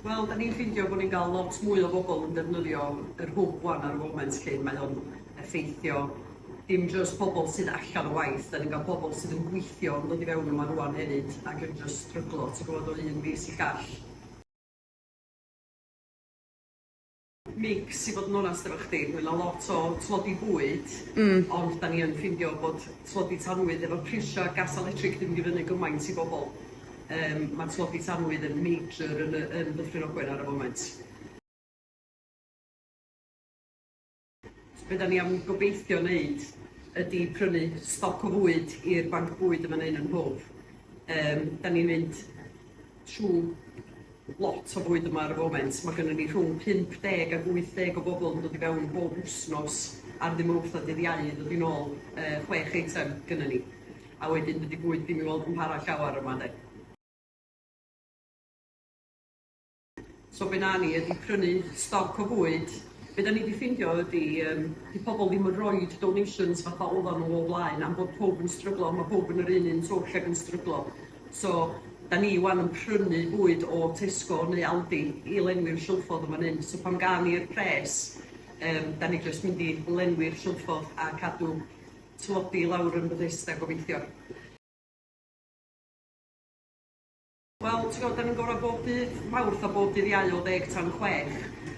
Wel, dan ni'n ffeindio bod ni'n cael lot mwy o bobl yn defnyddio yr hwb 'wan ar y foment 'lly. Mae o'n effeithio dim jyst pobl sydd allan o waith, dan ni'n cael pobl sydd yn gweithio yn dod i fewn yma rŵan hefyd ac yn jyst stryglo ti'n gwybod o un fis i'r llall. Migs i fod yn onast efo chdi ma' 'na lot o tlodi bwyd. Hmm. Ond 'dan ni yn ffindio bod tlodi tanwydd efo prisia gas a letric 'di mynd i fyny gymaint i bobol yym ma' tlodi tanwydd yn major yn y yn Dyffryn Ogwen ar y foment. Be' 'dan ni am gobeithio neud ydi prynu stoc o fwyd i'r banc bwyd yn fan 'yn yn Hwf. Yym 'dan ni'n mynd trw Lot o fwyd yma ar y foment, mae gynnon ni rhwng 50 ac 80 o bobl yn dod i fewn bob wsnos ar ddydd Mowrth a dydd Iau i ddod i nôl yy chwech eitem gynnon ni. A wedyn dydi bwyd ddim i weld yn para llawer yma de. So be wna ni ydi prynu stoc o fwyd, be da ni di ffindio ydi yym di pobl ddim yn roid donations fatha oddan nhw o blaen am bod pawb yn stryglo, ma' pawb yn yr un un twll ac yn stryglo. So, 'da ni 'wan yn prynu bwyd o Tesco neu Aldi i lenwi'r silffodd yn fan hyn, so pan gawn ni'r pres yym 'da ni jyst mynd i lenwi'r silffodd a cadw tlodi i lawr yn Bethesda gobeithio. Wel t'gwbod 'da ni'n gorau bob dydd Mawrth a bob dydd Iau o ddeg tan chwech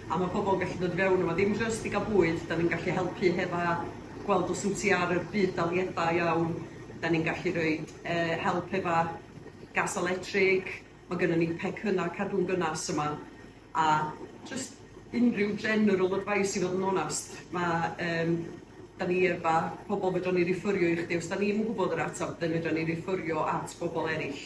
a ma' pobl yn gallu dod i fewn yma ddim jyst i ga'l bwyd 'da ni'n gallu helpu hefo gweld os wyt ti ar y budd-daliadau iawn, 'da ni'n gallu rhoid yy help efo gas electric, ma' gynnon ni pecynna cadw'n gynas yma a jyst unrhyw general advice i fod yn onast ma' yym 'dan ni efo pobol fedran ni rifyrio i chdi os 'dan ni'm yn gwbod yr atab 'dyn fedran ni rifyrio at bobol eryll.